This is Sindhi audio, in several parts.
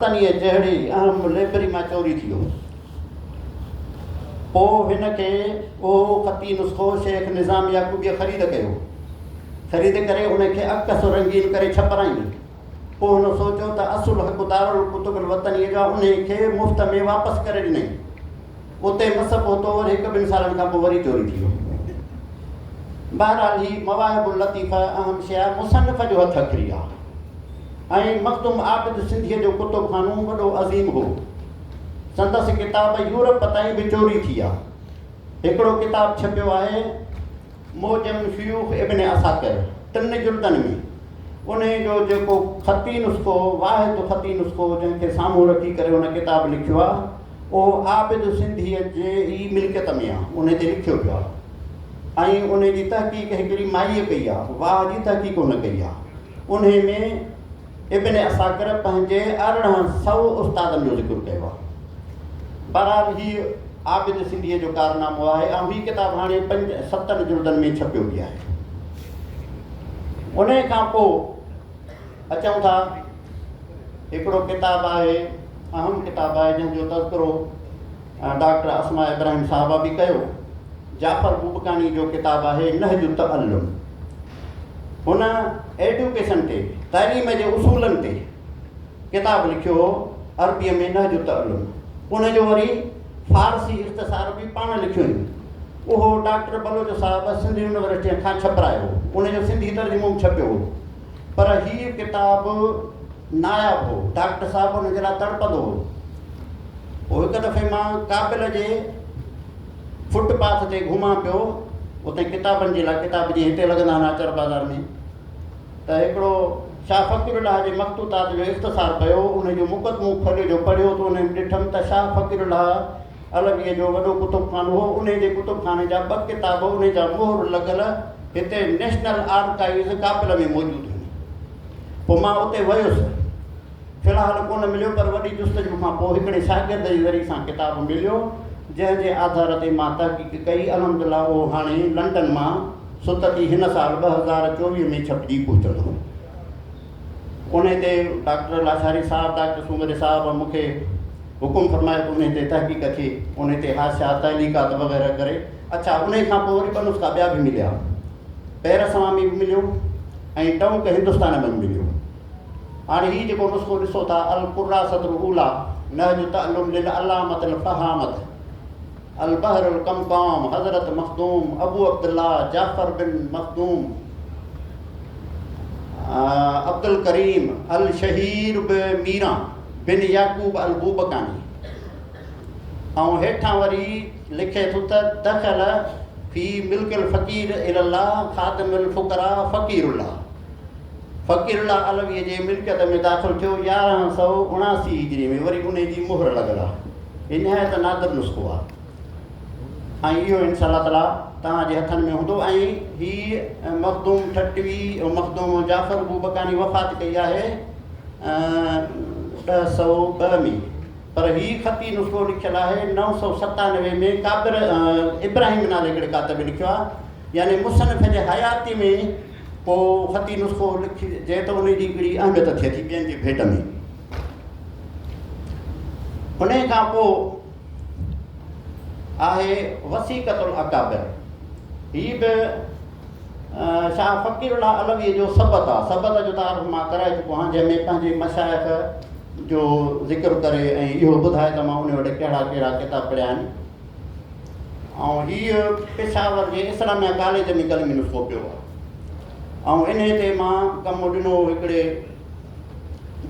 تنهيء جهڙي اهم لئبرري مان چوري ٿي ويو. پوء هن کي اهو خطي نسخو شيخ نظام يعقوبيء خريد ڪيو. خريد ڪري ان کي عڪس و رنگين ڪري ڇپرائين. پوء هن سوچيو ته اصل حق دارالڪتب الوطنيء جا انهيء کي مفت ۾ واپس ڪري ڏنائين. اتي مس پهتو ۽ هڪ ٻن سالن کان پوء وري چوري ٿي ويو. بهرحال هي مواهب اللطيفه اهم شيء مصنف جو هٿ اکري آ ۽ مخدوم عابد سنڌيء جو ڪتب خانو وڏو عظيم هو. سندس ڪتاب يورپ تائين به چوري ٿي آ. هڪڙو ڪتاب ڇپيو آهي معجم شيوخ ابن عساڪر ٽن جلدن ۾، انهي جو جيڪو خطي نسخو واحد خطي نسخو جنهن کي سامهون رکي ڪري هن ڪتاب لکيو آ، اهو عابد سنڌيء جي ئي ملڪيت ۾ آ، انهي تي لکيو پيو آ ۽ انهي جي تحقيق هڪڙي مائيء ڪئي آ، واهه جي تحقيق هن ڪئي آ. انهي ۾ ابن عساڪر پنهنجي ارڙهن سؤ استادن جو ذڪر ڪيو آ. بهرحال هيء عابد سنڌيء جو ڪارنامو آهي ۽ هي ڪتاب هاڻي پنج ستن جلدن ۾ ڇپيو به آهي. انهي کان پوء اچون ٿا. هڪڙو ڪتاب آهي اهم ڪتاب آهي جنهن جو تذڪرو ڊاڪٽر اسماء ابراهيم صاحبه به ڪيو جعفر بوبڪاڻي جو ڪتاب آهي نهج التعلم هن ايڊوڪيشن تي تعليم جي اصولن تي ڪتاب لکيو هو عربيء ۾ نهج التعلم ان جو وري فارسي اختصار به پاڻ لکيو آهن اهو ڊاڪٽر بلوچ صاحب سنڌ يونيورسٽي کان ڇپرايو ان جو سنڌي ترجمو به ڇپيو هو پر هيء ڪتاب ناياب هو. ڊاڪٽر صاحب ان جي لاء تڙپندو هو. پوء هڪ دفعي مان ڪابل جي فٽ پاٿ تي گهمان پيو، اتي ڪتابن جي لاء ڪتاب جيئن هتي لڳندا آهن آچر بازار ۾ ته هڪڙو شاهه فقير الله جي مخطوطات جو اختصار پيو هو. ان جو مقدمو کوليو جو پڙهيو ته ان ۾ ڏٺم ته شاهه فقير الله عربيء جو وڏو ڪتبخانو هو، انهي جي ڪتبخاني جا ٻه ڪتاب انهي جا مهر لڳل هتي نيشنل آرڪائيوز ڪاپل ۾ موجود هئي. پوء مان اتي ويس. في الحال ڪونه مليو پر وڏي جستجو کان پوء هڪڙي شاگرد جي ذريعي سان ڪتاب مليو، جنهن جي آڌار تي مان تحقيق ڪئي، الحمد لله اهو هاڻي لنڊن مان ستتي هن سال ٻه هزار چوويهه ۾ ڇپجي پهچندو. انهي تي ڊاڪٽر لاشاري صاحب، ڊاڪٽر سومري صاحب مون کي حڪم فرمايو ته انهي تي تحقيق ٿئي. انهي تي حاشيا، تعليقات وغيره ڪري. اڇا انهي کان پوء وري ٻه نسخا ٻيا به مليا. پيرسوان ۾ به مليو ۽ ٽؤنڪ هندستان ۾ به مليو. هاڻي هي جيڪو نسخو ڏسو ٿا، القراسة الاوليٰ، نهج تعلم للعلامة الفهامة، البحر القمقام حضرت مخدوم ابو عبدالله جعفر بن مخدوم عبدالڪريم الشهير به ميران بن يعقوب البوبڪاني ۽ هيٺان وري لکي ٿو ته دخل في ملڪ الفقير الى الله خادم الفقراء فقير الله فقير الله علوي جي ملڪيت ۾ داخل ٿيو يارهن سؤ اڻاسي هجري ۾ وري ان جي مهر لڳل آهي هي نهايت نادر نسخو آهي ۽ اهو انشاء الله تعاليٰ توهان جي هٿن ۾ هوندو ۽ هي مخدوم ٺٽوي مخدوم جعفر بوبڪاني وفات ڪئي آهي ڏهه سؤ ٻه ۾ پر هي خطي نسخو لکيل آهي نو سؤ ستانوي ۾ ڪابر ابراهيم نالي هڪڙي ڪاتب لکيو آهي يعني مصنف جي حياتي ۾ ڪو خطي نسخو لکجي ته ان جي هڪڙي اهميت ٿئي ٿي ٻين جي ڀيٽ ۾ انهيء کان پوء آهي وثيقة الاڪابر. هي به شاهه فقير الله علويء جو سبت آهي. سبت جو تعارف مان ڪرائي چڪو آهيان، جنهن ۾ پنهنجي مشائخ جو ذڪر ڪري ۽ اهو ٻڌائي ته مان انهي وٽ ڪهڙا ڪهڙا ڪتاب پڙهيا آهن. ۽ هي پشاور جي اسلاميه ڪاليج ۾ قلمي نسخو پيو آهي. ۽ انهي تي مان ڪم ڏنو هو هڪڙي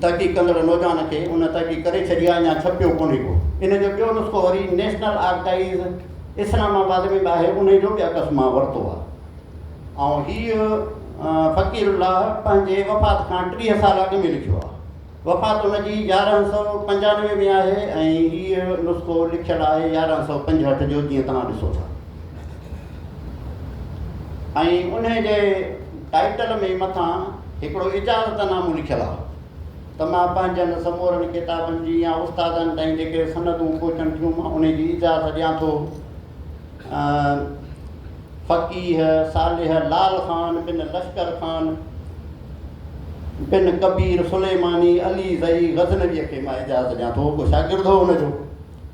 تحقيق ڪندڙ نوجوان کي ان تحقيق ڪري ڇڏي آهي يا ڇپيو ڪونهي ڪو. ان جو ٻيو نسخو وري نيشنل آرڪائيز اسلام آباد ۾ به آهي انهي جو به عڪس مان ورتو آهي ۽ هيء فقير الله پنهنجي وفات کان ٽيهه سال اڳ ۾ لکيو آهي. وفات ان جي يارهن سؤ پنجانوي ۾ آهي ۽ هيء نسخو لکيل آهي يارهن سؤ پنجهٺ جو جيئن توهان ڏسو ٿا. ۽ انهي جي ٽائيٽل ۾ مٿان هڪڙو اجازت نامو لکيل آ ته مان پنهنجن سمورن ڪتابن جي يا استادن تائين جيڪي سندون پهچن ٿيون مان انهي جي اجازت ڏيان ٿو فقيه صالح لال خان بن لشڪر خان بن ڪبير سليماني علي زئي غزنويء کي مان اجازت ڏيان ٿو ڪو شاگرد هو ان جو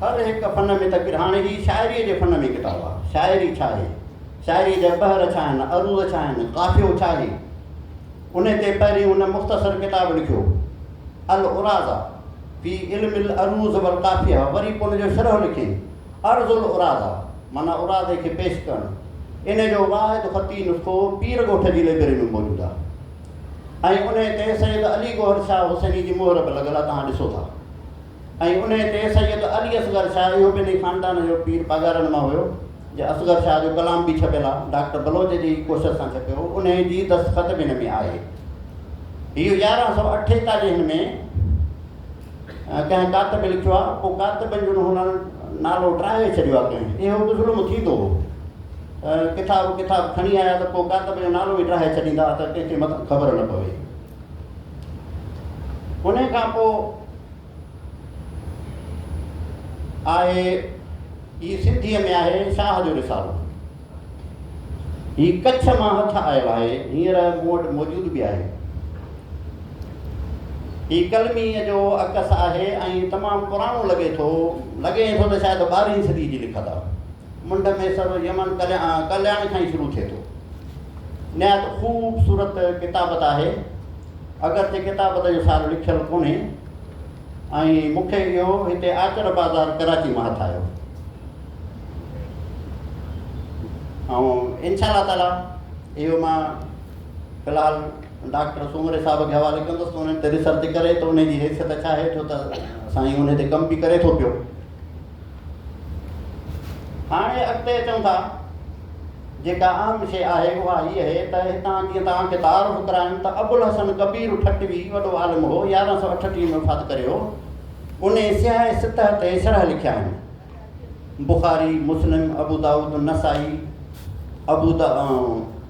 هر هڪ فن ۾ تڪبير. هاڻي هي شاعريء جي فن ۾ ڪتاب آهي. شاعري ڇا آهي؟ شاعريء جا بحر ڇا آهن؟ عروض ڇا آهن؟ قافيو ڇا آهي؟ انهيء تي پهرين هن مختصر ڪتاب لکيو، العراضه في علم العروض والقافيه، وري پوء ان جو شرح لکيائين، عرض العراضه، معنيٰ عراضي کي پيش ڪرڻ. انهيء جو واحد خطي نسخو پير ڳوٺ جي لئبرري ۾ موجود آهي ۽ انهيء تي سيد علي گوهر شاهه حسيني جي مهر به لڳل آهي، توهان ڏسو ٿا. ۽ انهيء تي سيد علي اصغر شاهه اهو به انهيء خاندان جو پير پاڳارن مان هيو جي اصغر شاهه جو ڪلام به ڇپيل آ ڊاڪٽر بلوچ جي ئي ڪوشش سان ڇپيو هو انهيء جي دستخط به هن ۾ آهي هيء يارهن سؤ اٺيتاليهن ۾ ڪنهن ڪاتب لکيو آ پوء ڪاتبن جو هنن نالو ٽاهي ڇڏيو آ ڪنهن اهو به ظلم ٿيندو هو ڪتاب ڪتاب کڻي آيا ته پوء ڪاتب جو نالو ئي ٽاهي ڇڏيندا ته ڪنهن کي متان خبر نه پوي ان کان پوء آهي هي سنڌيء ۾ آهي شاهه جو رسالو. هي ڪڇ مان هٿ آيو آهي، هينئر مون وٽ موجود به آهي. هي قلميء جو عڪس آهي ۽ تمام پراڻو لڳي ٿو، لڳي ٿو ته شايد ٻارهين صديء جي لکت آ. منڍ ۾ سر يمن ڪلياڻي کان ئي شروع ٿئي ٿو. نهايت خوبصورت ڪتابت آهي، اگرچه ڪتابت جو سار لکيل ڪونهي ۽ مون کي اهو هتي آچر بازار ڪراچي مان هٿ آيو. ۽ ان شاء الله تعاليٰ اهو مان في الحال ڊاڪٽر سومري صاحب کي حوالي ڪندس ته انهن تي ريسرچ ڪري ته انهي جي حيثيت ڇا آهي ڇو ته سائين انهي تي ڪم به ڪري ٿو پيو. هاڻي اڳتي اچون ٿا، جيڪا اهم شيء آهي اها هيء اهي ته هتان جيئن توهان کي تعارف ڪرايون ته ابوالحسن ڪبير ٺٽوي وڏو عالم هو، يارهن سؤ اٺٽيهه ۾ وفات ڪري هو، انهي سياهي سطح تي شرح لکيا آهن، بخاري، مسلم، ابودائود، نسائي، ابو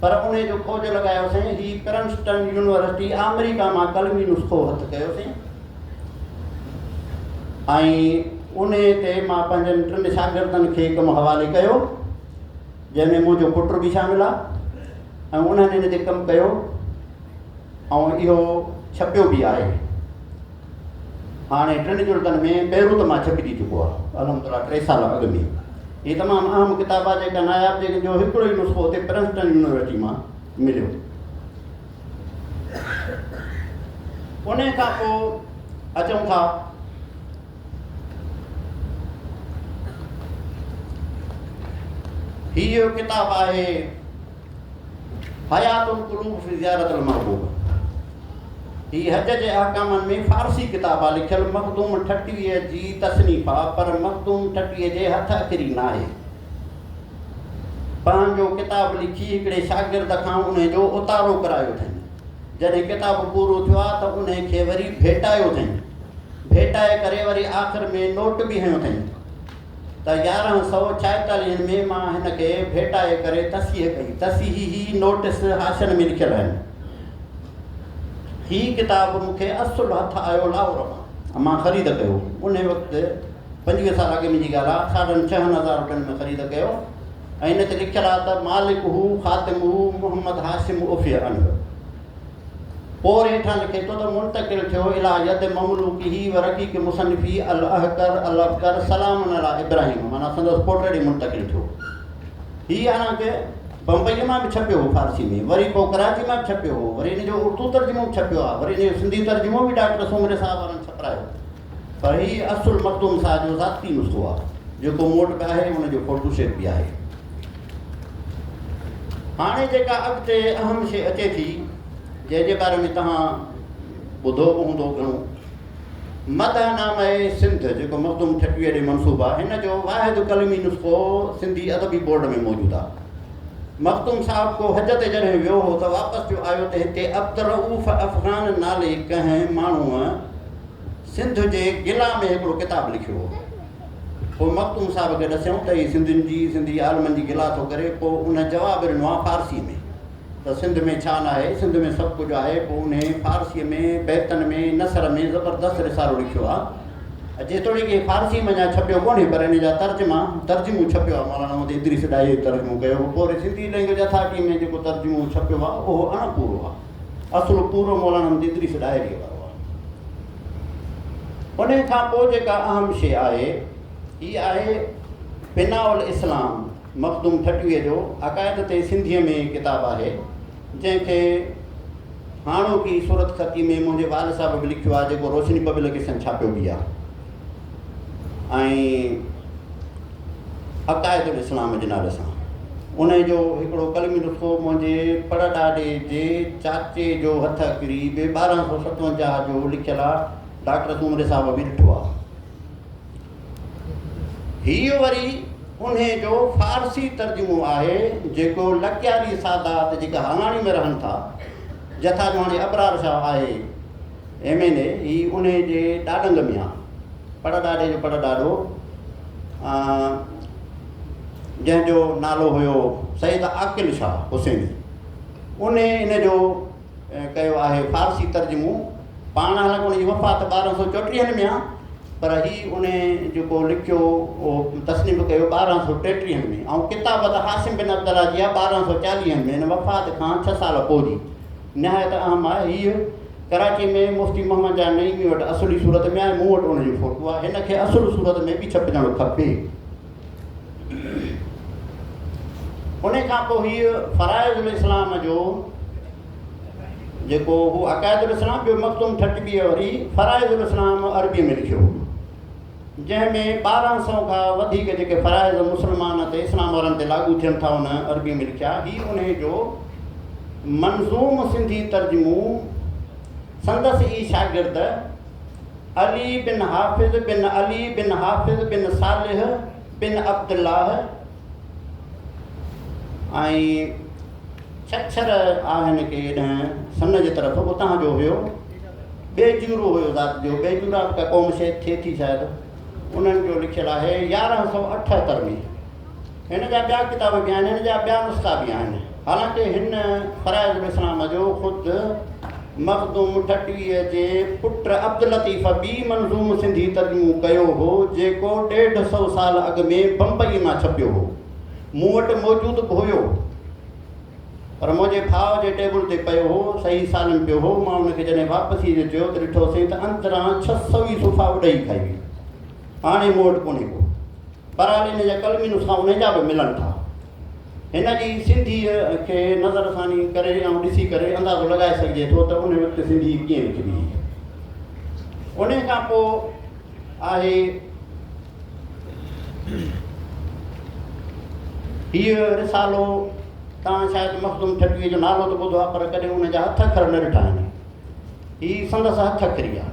پر انهي جو کوج لڳايوسين. هي پرنسٽن يونيورسٽي آمريڪا مان قلمي نسخو هٿ ڪيوسين ۽ انهي تي مان پنهنجن ٽن شاگردن کي ڪم حوالي ڪيو جنهن ۾ منهنجو پٽ به شامل آ ۽ انهن ان تي ڪم ڪيو ۽ اهو ڇپيو به آهي. هاڻي ٽن جلدن ۾ بيروت مان ڇپجي چڪو آهي. الحمدلله ٽي سال اڳ ۾ هي تمام اهم ڪتاب آهي جيڪا ناياب جيڪن جو هڪڙو ئي نسخو اتي پرنسٽن يونيورسٽي مان مليو. ان کان پوء اچون ٿا هي جو ڪتاب آهي حيات القلوب في زيارت المحبوب هي حج جي احڪامن ۾ فارسي ڪتاب آ لکيل مخدوم ٺٽويء جي تصنيف آ پر مخدوم ٺٽويء جي هٿ اکري ناهي. پنهنجو ڪتاب لکي هڪڙي شاگرد کان انهي جو اتارو ڪرايو اٿئين. جڏهن ڪتاب پورو ٿيو آ ته انهي کي وري ڀيٽايو اٿئين. ڀيٽائي ڪري وري آخر ۾ نوٽ به هنيو اٿئين. ته يارهن سؤ ڇائيتاليهن ۾ مان هن کي ڀيٽائي ڪري تصحيح ڪئي. تصحيحي هي نوٽس حاشين ۾ لکيل آهن. هي ڪتاب مون کي اصل هٿ آيو لاهور مان. مان خريد ڪيو. انهي وقت پنجويهه سال اڳي مون جي ڳالهه آهي. ساڍن ڇهن هزار روپين ۾ خريد ڪيو ۽ ان تي لکيل آهي ته مالڪه خاتمه محمد هاشم عفيه عنه. پوء هيٺان لکي ٿو ته منتقل ٿيو الى ید مملوڪه و رقيق مصنفي الاهڪر الافڪر سلام علی ابراهيم معنيٰ سندس پوٽ ڏي منتقل ٿيو هي حالانڪه بمبئي مان به ڇپيو هو فارسي ۾ وري پوء ڪراچي مان به ڇپيو هو وري ان جو اردو ترجمو به ڇپيو آهي وري ان جو سنڌي ترجمو به ڊاڪٽر سومري صاحب وارن ڇپرايو پر هي اصل مخدوم صاحب جو ذاتي نسخو آهي جيڪو مون وٽ به آهي ان جو فوٽو سيٽ به آهي هاڻي جيڪا اڳتي اهم شي اچي ٿي جنهن جي باري ۾ توهان ٻڌو به هوندو گهڻو مدح نامه سنڌ جيڪو مخدوم ٺٽويء ڏي منسوب آهي هن جو واحد قلمي نسخو سنڌي ادبي بورڊ ۾ موجود آهي مخدوم صاحب ڪو حج تي جڏهن ويو هو ته واپس جو آيو ته هتي عبدالرؤف افغان نالي ڪنهن ماڻهوء سنڌ جي گلا ۾ هڪڙو ڪتاب لکيو هو. پوء مخدوم صاحب کي ڏسيائون ته هي سنڌين جي، سنڌي عالمن جي گلا ٿو ڪري. پوء ان جواب ڏنو ها فارسيء ۾، ته سنڌ ۾ ڇا ناهي، سنڌ ۾ سڀ ڪجهه آهي. پوء انهيء فارسيء ۾ بيتن ۾ نثر ۾ زبردست رسالو لکيو ها. جيتوڻيڪ هي فارسيء ۾ اڃا ڇپيو ڪونهي، پر ان جا ترجما، ترجمو ڇپيو ها. مولانا محمد ادريس ڏاهيء ترجمو ڪيو هو. پوري سنڌي لئنگويج اٿارٽيء ۾ جيڪو ترجمو ڇپيو ها، اهو اڻپورو ها. اصل پورو مولانا حميد ادريس ڏاهريء وارو آهي. انهيء کان پوء جيڪا اهم شيء آهي، هيء آهي بناء الاسلام مخدوم ٺٽويء جو عقائد تي سنڌيء ۾ ڪتاب آهي، جنهن کي هاڻوڪي صورتخطيء ۾ منهنجي وال صاحب به لکيو آهي، جيڪو روشني پبلڪيشن ڇاپيو به آهي. ۽ عقائد الاسلام جي نالي سان ان جو هڪڙو قلمي نسخو منهنجي پڙڏاڏي جي چاچي جو هٿ اڪري بي ٻارهن سؤ ستونجاهه جو لکيل آ ڊاڪٽر سومري صاحب به ڏٺو آ هي وري ان جو فارسي ترجمو آهي جيڪو لڪياري سادات جيڪا هالاڻي ۾ رهن ٿا جٿا جو هاڻي ابرار شاهه آهي ايم اين اي هي انهي جي ڏاڏنگ ميان پڙ ڏاڏي جو پڙ ڏاڏو جنهن جو نالو هيو سيد عاقل شاهه حسيني انهي ان جو ڪيو آهي فارسي ترجمو پاڻ هلڪ ان جي وفات ٻارهن سو چوٽيهن ۾ آهي پر هي ان جيڪو لکيو تصنيف ڪيو ٻارهن سو ٽيٽيهن ۾ ۽ ڪتابت حاسم بن عبدالله جي آهي ٻارهن سو چاليهن ۾ ان وفات کان ڇهه سال پوء جي نهايت اهم آهي هيء ڪراچي ۾ مفتي محمد جان نعيمي وٽ اصلي صورت ۾ آهي مون وٽ ان جي فوٽو آهي هن کي اصل صورت ۾ به ڇپجڻ کپي ان کان پوء هيء فرائض الاسلام جو جيڪو هو عقائد الاسلام جو مخدوم ٺٽ به وري فرائض الاسلام عربي ۾ لکيو جنهن ۾ ٻارهن سئو کان وڌيڪ جيڪي فرائض مسلمان تي اسلام وارن تي لاڳو ٿين ٿا ان عربي ۾ لکيا. هي انهي جو منظوم سنڌي ترجمو سندس ئي شاگرد علي بن حافظ بن علي بن حافظ بن صالح بن عبدالله، ۽ ڇڇر آهن کي ايڏهن سن جي طرف اتان جو هيو بيجورو هيو ذات جو بيجورا به ڪا قوم شيد ٿئي ٿي شايد انهن جو لکيل آهي يارهن سؤ اٺهتر ۾ هن جا ٻيا ڪتاب به آهن هن جا ٻيا نسخا به آهن حالانڪه هن فرائضالاسلام جو خود مخدوم ٺٽويء جي پٽ عبداللطيف ٻي منظوم سنڌي ترجمو ڪيو هو، جيڪو ڏيڍ سؤ سال اڳ ۾ بمبئيء مان ڇپيو هو. مون وٽ موجود به هيو، پر منهنجي ڀاء جي ٽيبل تي پيو هو. صحيح سالم پيو هو. مان ان کي جڏهن واپسيء جو چيو ته ڏٺوسين ته اندران ڇهه سؤ ئي صفحا اڏهي کائي ويو. هاڻي مون وٽ ڪونهي ڪو. بهرحال ان جا قلمي نسخا انهي جا به ملن ٿا. هن جي سنڌيء کي نظر ثاني ڪري آئون ڏسي ڪري اندازو لڳائي سگهجي ٿو ته ان وقت سنڌي ڪيئن لکبي هئي. ان کان پوء آهي هيء رسالو توهان شايد مخدوم ٺٽويء جو نالو ته ٻڌو آهي پر ڪڏهن ان جا هٿ اکر نه ڏٺا آهن. هي سندس هٿ اکري آهي.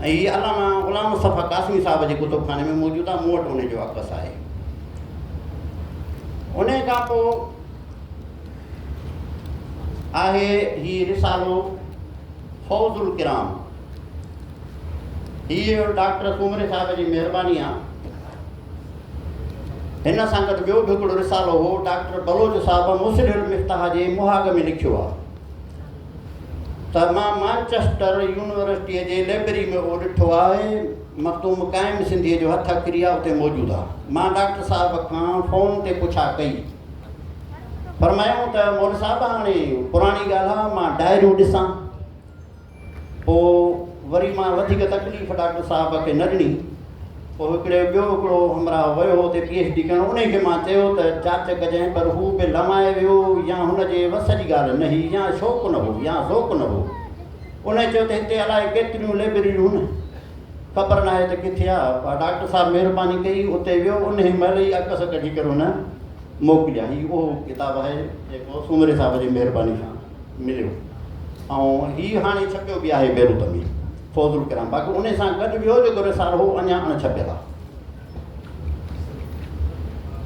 ۽ هي علامه غلام مصطفيٰ قاسمي صاحب جي ڪتبخاني ۾ موجود آهي، مون وٽ انهي جو عڪس آهي. انهي کان پوء آهي هي رسالو فوز الڪرام. هيء ڊاڪٽر سومري صاحب جي مهرباني آ. هن سان گڏ ٻيو به هڪڙو رسالو هو، ڊاڪٽر بلوچ صاحب مصلح المفتاح جي مهاڳ ۾ لکيو آ. ته مان مانچسٽر يونيورسٽيء جي لئبرري ۾ اهو ڏٺو آهي، مخدوم قائم سنڌيء جو هٿ اکري آهي اتي موجود آهي. مان ڊاڪٽر صاحب کان فون تي پڇا ڪئي. فرمايائون ته مول صاحب هاڻي پراڻي ڳالهه آهي مان ڊائريون ڏسان. پوء وري مان وڌيڪ تڪليف ڊاڪٽر صاحب کي نه ڏني. پوء هڪڙي ٻيو هڪڙو همراهه ويو هو اتي پي ايڇ ڊي ڪرڻ، انهي کي مان چيو ته جاچ ڪجانء پر هو به لنوائي ويو، يا هن جي وس جي ڳالهه نه هئي يا شوق نه هو يا ذوق نه هو. انهي چيو ته هتي الائي ڪيتريون لئبرريون هن خبر ناهي ته ڪٿي آ، پر ڊاڪٽر صاحب مهرباني ڪئي اتي ويو، انهي مهل ئي عڪس ڪڍي ڪري هن موڪليا، هي اهو ڪتاب آهي جيڪو سومري صاحب جي مهرباني سان. مليو ۽ هي هاڻي ڇپيو به آهي بيروت ۾ فوز الڪرام باقي ان سان گڏ ٻيو جيڪو رسالو هو اڃا اڻ ڇپيل آهي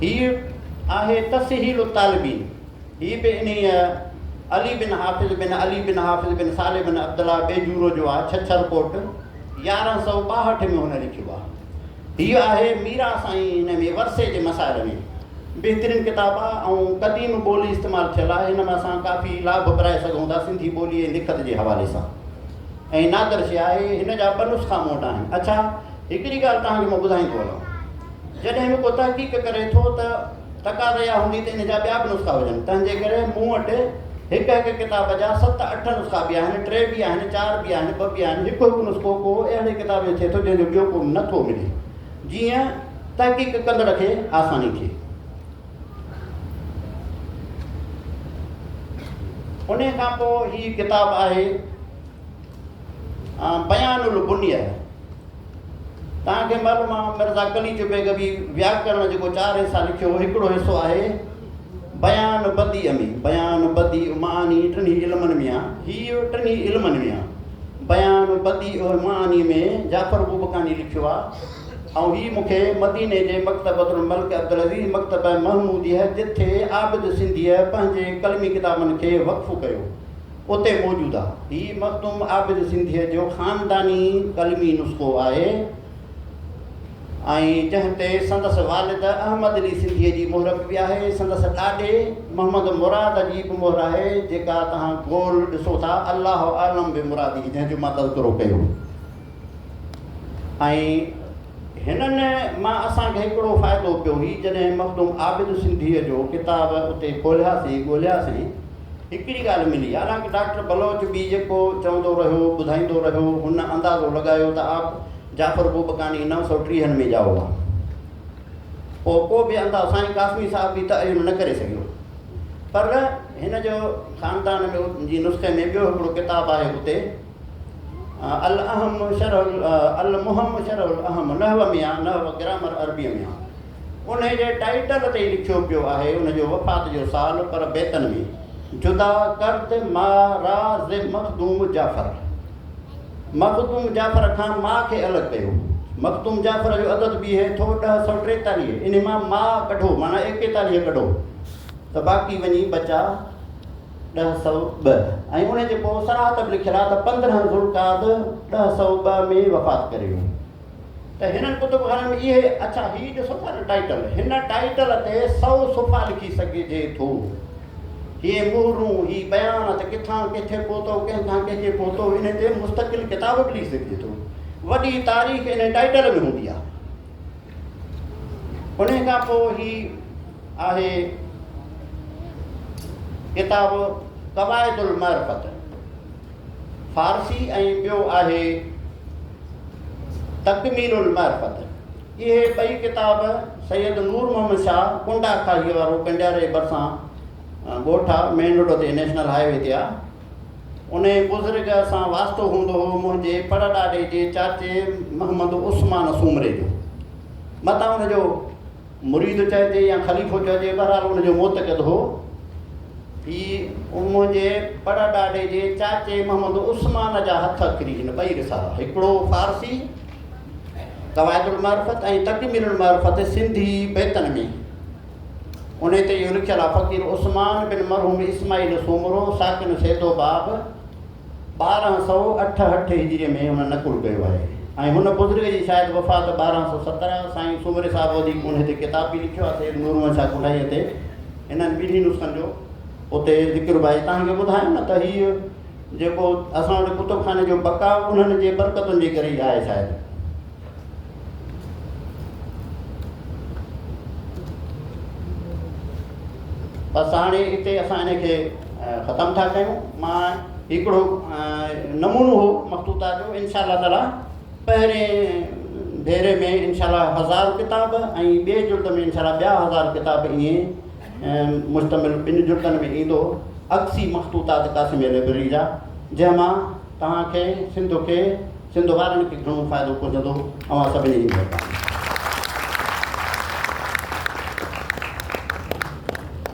هي آهي تسهيل الطالبين هي به انهي علي بن حافظ بن علي بن حافظ بن صالح بن عبدالله بيجورو جو آهي ڇڇر ڪوٽ يارهن سؤ ٻاهٺ ۾ هن لکيو آهي هي آهي ميران سائين هن ۾ ورثي جي مسائل ۾ بهترين ڪتاب آ ۽ قديم ٻولي استعمال ٿيل آ هن مان اسان ڪافي لاڀ پرائي سگهون ٿا سنڌي ٻولي ۽ لکت جي حوالي سان ۽ نادر شي آهي هن جا ٻه نسخا مون وٽ آهن اڇا هڪڙي ڳالهه توهان کي مان ٻڌائيندو هلان جڏهن به ڪو تحقيق ڪري ٿو ته تقاضي اها هوندي ته ان جا ٻيا به نسخا هجن، تنهن جي ڪري مون وٽ هڪ هڪ ڪتاب جا ست اٺ نسخا به آهن، ٽي به آهن، چار به آهن، ٻه به آهن، هڪ هڪ نسخو ڪو اهڙي ڪتاب جو ٿئي ٿو جنهن جو ٻيو ڪو نه ٿو ملي، جيئن تحقيق ڪندڙ کي آساني ٿئي. انهيء کان پوء هي ڪتاب آهي بيان البنيه. توهان کي معلوم آ مرزا قليچ بيگ به وياڪرڻ جيڪو چار حصا لکيو هو هڪڙو حصو آهي بيان بديع ۾ بيان بديع معاني ٽنهي علمن ۾ آ هي ٽنهي علمن ۾ آ بيان بديع معاني ۾ جعفر بوبڪاني لکيو آ ۽ هي مون کي مديني جي مڪتبه الملڪ عبدالعزيز مڪتبه محموديه جتي عابد سنڌيء پنهنجي قلمي ڪتابن کي وقف ڪيو اتي موجود آ. هي مخدوم عابد سنڌيء جو خانداني قلمي نسخو آهي ۽ جنهن تي سندس والد احمد علي سنڌيء جي مهر به آهي. سندس ڏاڏي محمد مراد جي به مهر آهي، جيڪا توهان گول ڏسو ٿا، الله اعلم بمراده جنهن جو مان تذڪرو ڪيو. ۽ هنن مان اسان کي هڪڙو فائدو پيو هي جڏهن مخدوم عابد سنڌيء جو ڪتاب اتي کولياسين ڳولياسين هڪڙي ڳالهه ملي حالانڪ ڊاڪٽر بلوچ به جيڪو چوندو رهيو ٻڌائيندو رهيو هن اندازو لڳايو ته آپ جعفر بوبڪاني نو سؤ ٽيهن ۾ ڄائو هئا پوء ڪو به اندازو سائين قاسمي صاحب به تعين نه ڪري سگهيو پر هن جو خاندان ۾ جي نسخي ۾ ٻيو هڪڙو ڪتاب آهي اتي الاهم شرح المهم شرح الاهم نحو ۾ آهي، نحو گرامر عربيء ۾ آهي. انهيء جي ٽائيٽل تي ئي لکيو پيو آهي ان جو وفات جو سال پر بيتن ۾ جدا ڪرد ما را ز مخدوم جعفر. مخدوم جعفر کان ما کي الڳ ڪيو. مخدوم جعفر جو عدد بيهي ٿو ڏهه سؤ ٽيتاليهه انهي مان ما ڪڍو معنيٰ ايڪيتاليهه ڪڍو ته باقي وڃي بچا. ڏهه سؤ ٻه، ۽ ان جي پوء صراحت به لکيل آهي ته پندرهن ذوالقعد ڏهه سؤ ٻه ۾ وفات ڪري ويو. ته هنن ڪتب خانن ۾ اهي اڇا هي ڏسو ٿا نه ٽائيٽل، هن ٽائيٽل تي سؤ صفحا لکي سگهجي ٿو. هي مهرون، هي بيان ته ڪٿان ڪٿي پهتو، ڪنهن کان ڪنهجي پهتو، انهي تي مستقل ڪتاب به لکي سگهجي ٿو. وڏي تاريخ انهي ٽائيٽل ۾ هوندي آهي. انهي کان پوء هي آهي ڪتاب قواعد المعرفت فارسي ۽ ٻيو آهي تڪميل المعرفت اهي ٻئي ڪتاب سيد نور محمد شاهه ڪنڊا کاهي وارو ڪنڊياري ڀرسان ڳوٺ آ مين روڊ تي نيشنل هاء وي تي آ انهيء بزرگ سان واسطو هوندو هو منهنجي پڙڏاڏي جي چاچي محمد عثمان سومري جو. متان ان جو مريد چئجي يا خليفو چئجي بهرحال ان جو معتقد هو. هي منهنجي پڙڏاڏي جي چاچي محمد عثمان جا هٿ اکري هن ٻئي رسالا هڪڙو فارسي قواعد المعرفت ۽ تڪميل المعرفت سنڌي بيتن ۾. انهيء تي اهو لکيل آهي، فقير عثمان بن مرحوم اسماعيل سومرو، ساڪن سيدو باب، ٻارهن سؤ اٺهٺ هجريء ۾ هن نقل ڪيو آهي ۽ هن بزرگ جي شايد وفات ٻارهن سؤ سترهن، سائين سومري صاحب وڌيڪ انهيء تي ڪتاب به لکيو آهي سيد نور محمد شاهه ڪنڊائيء تي، انهن ٻنهي نسخن جو اتي ذڪر به آهي، توهان کي ٻڌايم نه ته هيء جيڪو اسان وٽ ڪتبخاني جو بقاء انهن جي برڪتن جي ڪري ئي آهي شايد. بس هاڻي هتي اسان ان کي ختم ٿا ڪيون مان هڪڙو نمونو هو مخطوطا جو ان شاء الله تعاليٰ پهرين ڀيري ۾ ان شاء الله هزار ڪتاب ۽ ٻئي جلد ۾ ان شاء الله ٻيا هزار ڪتاب ائين ۽ مشتمل ٻن جلدن ۾ ايندو عڪسي مخطوطات قاسميه لئبرري جا، جنهن مان توهان کي سنڌ کي سنڌ وارن کي گهڻو فائدو پهچندو. اوهان سڀني جي مهرباني.